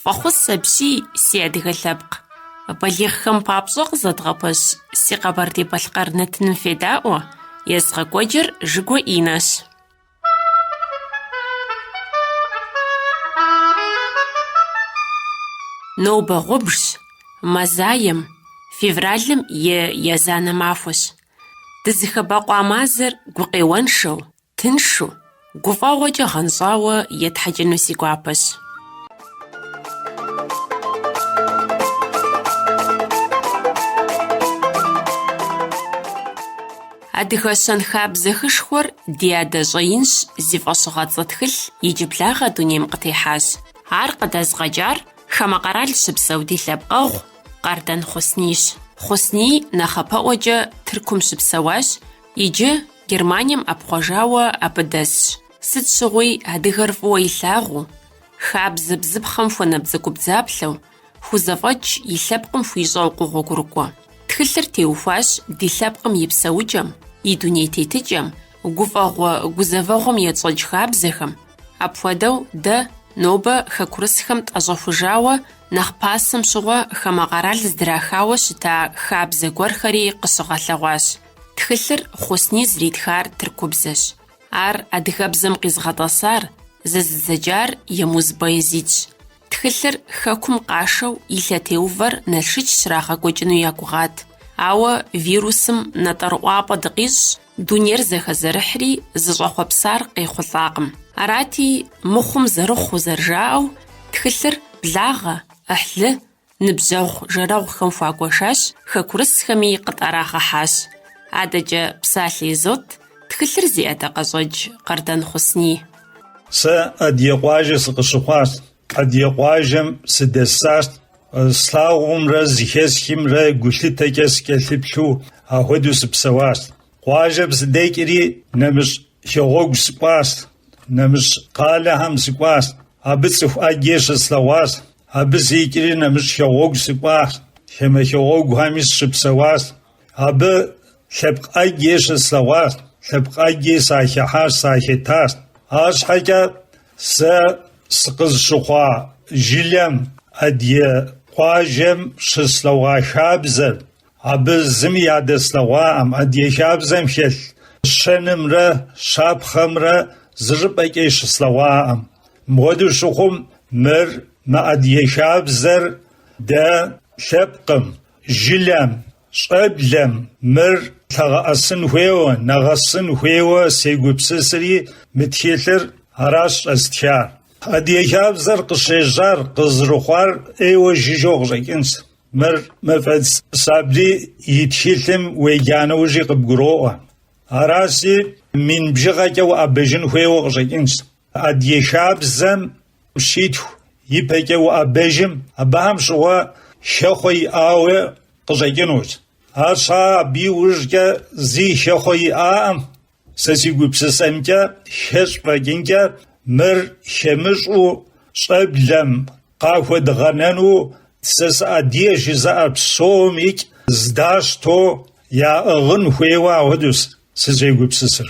Фӏэхъус апси, си адыгэ лъэпкъ. Балигъхэм папщӏэ къызэдгъэпэщ си Къэбэрдей-Балъкъэр нэтыным федаӏуэ, езыгъэкӏуэкӏыр Жыгуэ Инэщ. Нобэ гъубжщ, мазаем, февралым и язанэ махуэщ. Дызыхэбэкъуа мазэр гукъеуэншэу, тыншу, гуфӏэгъуэкӏэ гъэнщӏауэ етхьэкӏыну си гуапэщ. Адыгэ щэнхабзэ хышхуэр ди адэ щӏэинщ зи фӏэщыгъэцӏэ тхылъ иджыблагъэ дунейм къытехьащ. Ар къыдэзыгъэкӏар хамэ къэрал щыпсэу ди лъэпкъэгъу Къардан Хъуснийщ. Хъусний нэхъапэӏуэкӏэ Тыркум щыпсэуащ, иджы Германием ӏэпхъуэжауэ абы дэсщ. Сыт щыгъуи адыгэр фӏыуэ илъагъуу, хабзэ бзыпхъэм хуэнабдзэгубдзаплъэу, хузэфӏэкӏ и лъэпкъым хуищӏэу къогъуэгурыкӏуэ. Тхылъыр теухуащ ди лъэпкъым и псэукӏэм, и дуней тетыкӏэм, гуфӏэгъуэ гузэвэгъуэм етщӏэкӏ хабзэхэм, Апхуэдэу дэ нобэ хэкурысхэм тӏэщӏэхужауэ нэхъ пасэм щыгъуэ хамэ къэрал здрахауэ щыта хабзэ гуэрхэри къыщыгъэлъэгъуащ. Тхылъыр Хъусний зэритхар тыркубзэщ. Ар адыгэбзэм къизыгъэтӏэсар, зэзыдзэкӏар Емуз Баязитщ. Тхылъыр хэкум къашэу и лъэтеувэр Налшыч щрагъэкӏуэкӏыну я гугъат. Ауэ вирусым натӏэрыӏуапӏэ дыкъищӏщ, Дунейр зэхэзэрыхьри, зыщӏэхъуэпсар къехъулӏакъым. Арати, мыхъум зэрыхъуу зэрыжаӏэу, тхылъыр благъэ, ӏыхьлы, ныбжьэгъу жэрэгъухэм хуагуэшащ, хэкурысхэми къытӏэрагъэхьащ. Адэкӏэ псалъэ изот тхылъыр зи ӏэдакъэщӏэкӏ Къардан Хъусний. Сэ адыгэ къуажэ сыкъыщыхъуащ, Адыгэ къуажэм сыдэсащ, слъагъумрэ зыхесхимрэ гулъытэкӏэ сыкӏэлъыплъу ахуэдэу сыпсэуащ. Къуажэм сыдэкӏри, нэмыщӏ хэгъуэгу сыкӏуащ, нэмыщӏ къалэхэм сыкӏуащ. Абы цӏыху ӏэджэ щыслъэгъуащ. Абы сикӏри нэмыщӏ хэгъуэгу сыкӏуащ, хамэ хэгъуэгухэми сыщыпсэуащ. Абы лъэпкъ ӏэджи щыслъэгъуащ, лъэпкъ ӏэджи сахыхьащ, сахэтащ. Арщхьэкӏэ сэ сыкъызыщыхъуа жылэм, адыгэ къуажэм щыслъэгъуа хабзэр, абы зыми ядэслъэгъуаӏым, адыгэ хабзэм хэлъ щэнымрэ щапхъэмрэ зы щӏыпӏэкӏи щыслъэгъуаӏым. Мыпхуэдэу щыхъум, мыр, мы адыгэ хабзэр дэ лъэпкъым, Жылэм, щӏэблэм мыр лъагъэӏэсын хуейуэ, нэгъэсын хуейуэ сегупсысри, мы тхылъыр аращ щӏэзтхар. Адыгэ хабзэр къыщежьар, къызрыхъуар ӏейуэ жыжьэу къыщӏэкӏынщ. Мыр Мэфӏэдз Сабри и тхылъым уеджа нэужьи къыбгуроӏуэ. Аращи, мин бжыгъэкӏэ уӏэбэжын хуейуэ къыщӏэкӏынщ. Адыгэ хабзэм щитху ипэкӏэ уӏэбэжым, абыхэм щыгъуэ хэхъуэ иӏауэ къыщӏэкӏынущ. Арщхьэ абы иужькӏэ зи хэхъуэ иӏакъым. Сэ си гупсысэмкӏэ, хэщӏ фӏэкӏынкӏэ мыр хэмыщӏу щӏэблэм къахуэдгъэнэну сэ сыадыгэ жызыӏэр псомикӏ здащтэу яӏыгъын хуейуэ ахуэдэущ сызегупсысыр.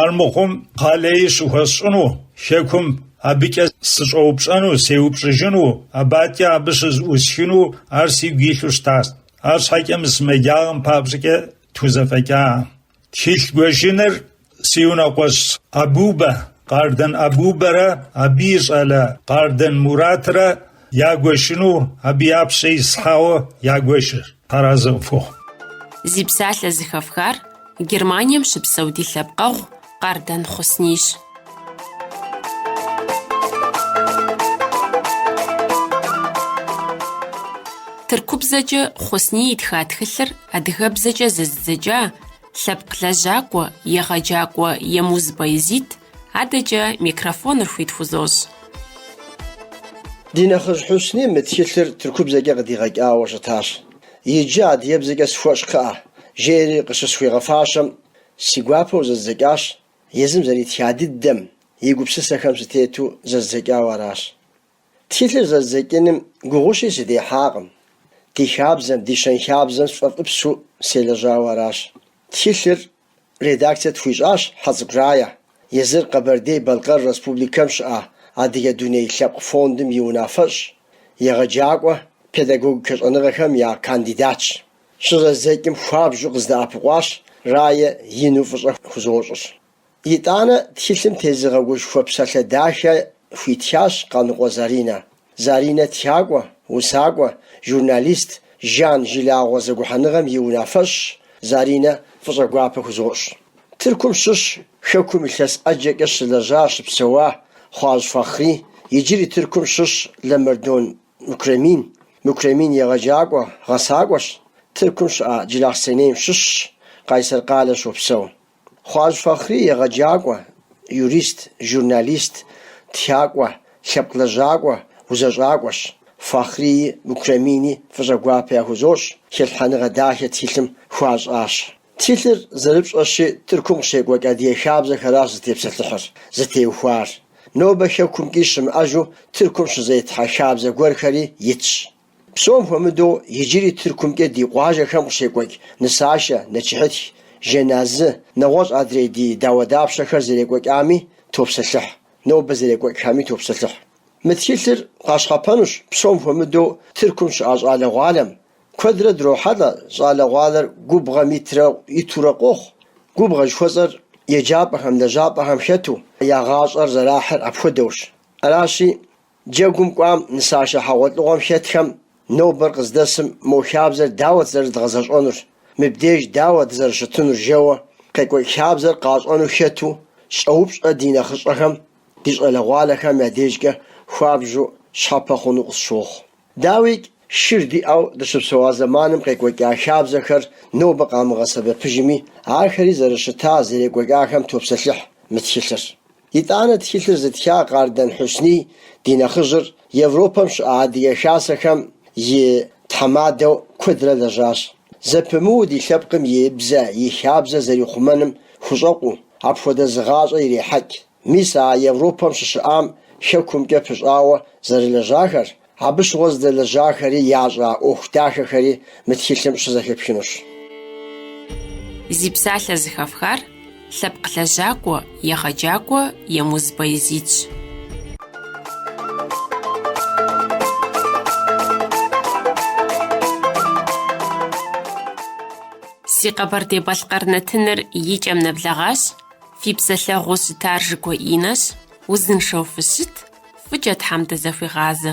Армыхъум къалэи щыхуэсщӏыну, Хэкум абыкӏэ сыщӏэупщӏэну, сеупщӏыжыну, абы адкӏэ абы щызыӏусхыну ар сигу илъу щытащ. Арщхьэкӏэ мы сымаджагъэм папщӏэкӏэ тхузэфӏэкӏакъым. Тхылъ гуэшыныр си унэкъуэщ Абубэ, Къардэн Абубэрэ абы и щӏалэ Къардэн Муратрэ Ягуэшыну абы я пщэ ислъхьауэ ягуэшыр. Тхьэразэ къыпхухъу. Зи псалъэ зыхэфхар Германием щыпсэу ди лъэпкъэгъу Къардэн Хъуснийщ. Тыркубзэкӏэ Хъусний итха тхылъыр адыгэбзэкӏэ зэзыдзэкӏа лъэпкъ лэжьакӏуэ, егъэджакӏуэ Емуз Баязит Адэкӏэ микрофоныр хуит хузощӏ. Ди нэхъыжь Хьусни мы тхылъыр тыркубзэкӏэ къыдигъэкӏауэ щытащ. Иджы адыгэбзэкӏэ схуэщӏ кхъыӏэ, жери къыщысхуигъэфащэм, си гуапэу зэздзэкӏащ, езым зэритха дыдэм, и гупсысэхэм сытету зэздзэкӏауэ аращ. Тхылъыр зэздзэкӏыным гугъущи сыдехьакъым. Ди хабзэм, ди щэнхабзэм сфӏэфӏыпсу селэжьауэ аращ. Тхылъыр Редакцэ тхуищӏащ Хьэцӏыкӏу Рая, езыр Къэбэрдей-Балъкъэр Республикэм щыӏа Адыгэ дуней лъэпкъ фондым и унафэщӏ, егъэджакӏуэ, педагогикэ щӏэныгъэхэм я кандидатщ. Щызэздзэкӏым хуабжьу къыздэӏэпыкъуащ, Рая ину фӏыщӏэ хузощӏыр. Итӏанэ тхылъым тезыгъэгушхуэ псалъэ дахэ хуитхащ Къаныкъуэ Заринэ. Заринэ тхакӏуэ, усакӏуэ, журналист, Жан жылагъуэ зэгухьэныгъэм и унафэщӏщ, Заринэ фӏыщӏэ гуапэ хузощӏ. Тыркум щыщ Хэкум илъэс ӏэджэкӏэ щылэжьа, щыпсэуа Хъуажь Фахъри, иджыри Тыркум щыщ Лэмэрдон Мукремин. Мукремин егъэджакӏуэ, гъэсакӏуэщ, Тыркум щыӏэ Джылахъсэнейм щыщщ, Къайсэр къалэ щопсэу. Хъуажь Фахъри егъэджакӏуэ, юрист, журналист, тхакӏуэ, лъэпкъ лэжьакӏуэ, узэщӏакӏуэщ. Фахърии Мукремини фӏыщӏэ гуапэ яхузощӏ, хэлъхьэныгъэ дахэ тхылъым хуащӏащ. Тхылъыр зэрыпщӏэщи, Тыркум къыщекӏуэкӏ адыгэ хабзэхэращ зытепсэлъыхьыр, зытеухуар. Нобэ Хэкумкӏи щымыӏэжу Тыркум щызетхьэ хабзэ гуэрхэри итщ. Псом хуэмыдэу иджыри Тыркумкӏэ ди къуажэхэм къыщекӏуэкӏ нысашэ, нэчыхьытх, жэназы, нэгъуэщӏ адрей ди дауэдапщэхэр зэрекӏуэкӏами топсэлъыхь, нобэ зэрекӏуэкӏхэми топсэлъыхь. Мы тхылъыр къащхъэпэнущ псом хуэмыдэу Тыркум щыӏэ щӏалэгъуалэм. Куэдрэ дрохьэлӏэ щӏалэгъуалэр губгъуэм итрэ итурэ къохъу. Губгъуэ жыхуэсӏэр еджапӏэхэм, лэжьапӏэхэм хэту, я гъащӏэр зэрахьыр апхуэдэущ. Аращи, Джэгум кӏуам нысашэ хьэгъуэлӏыгъуэм хэтхэм нобэр къыздэсым мо хабзэр дауэт зэрыдгъэзэщӏэнур, мыбдеж дауэ дызэрыщытынур жэуэ къекӏуэкӏ хабзэр къащӏэну хэту щӏэупщӏэ ди нэхъыщӏэхэм, ди щӏалэгъуалэхэм я дежкӏэ хуабжьу щхьэпэ хъуну къысщохъу. Дауикӏ, шыр диӏэу дыщыпсэуа зэманым къекӏуэкӏа хабзэхэр нобэ къамыгъэсэбэпыжми, ахэри зэрыщыта зэрекӏуэкӏахэм топсэлъыхь мы тхылъыр. Итӏанэ тхылъыр зытха Къардэн Хьусний ди нэхъыжьыр Европэм щыӏэ Адыгэ Хасэхэм и тхьэмадэу куэдрэ лэжьащ. Зэпымыуу ди лъэпкъым и бзэ, и хабзэ зэрихъумэным хущӏэкъуу, апхуэдэ зы гъащӏэ ирехьэкӏ. Мис а Европэм щыщыӏам хэкумкӏэ пыщӏауэ зэрылэжьахэр, Абы щыгъуэ здэлэжьахэри ящӏа ӏуэху дахэхэри мы тхылъым щызэхэпхынущ. Зи псалъэ зыхэфхар лъэпкъ лэжьакӏуэ, егъэджакӏуэ Емуз Баязидщ. Си Къэбэрдей-Балъкъэр нэтыныр и кӏэм нэблэгъащ, фи псэлъэгъуу щытар Жыкӏуэ Инэщ, узыншэу фыщыт, Фӏыкӏэ Тхьэм дызэхуигъазэ.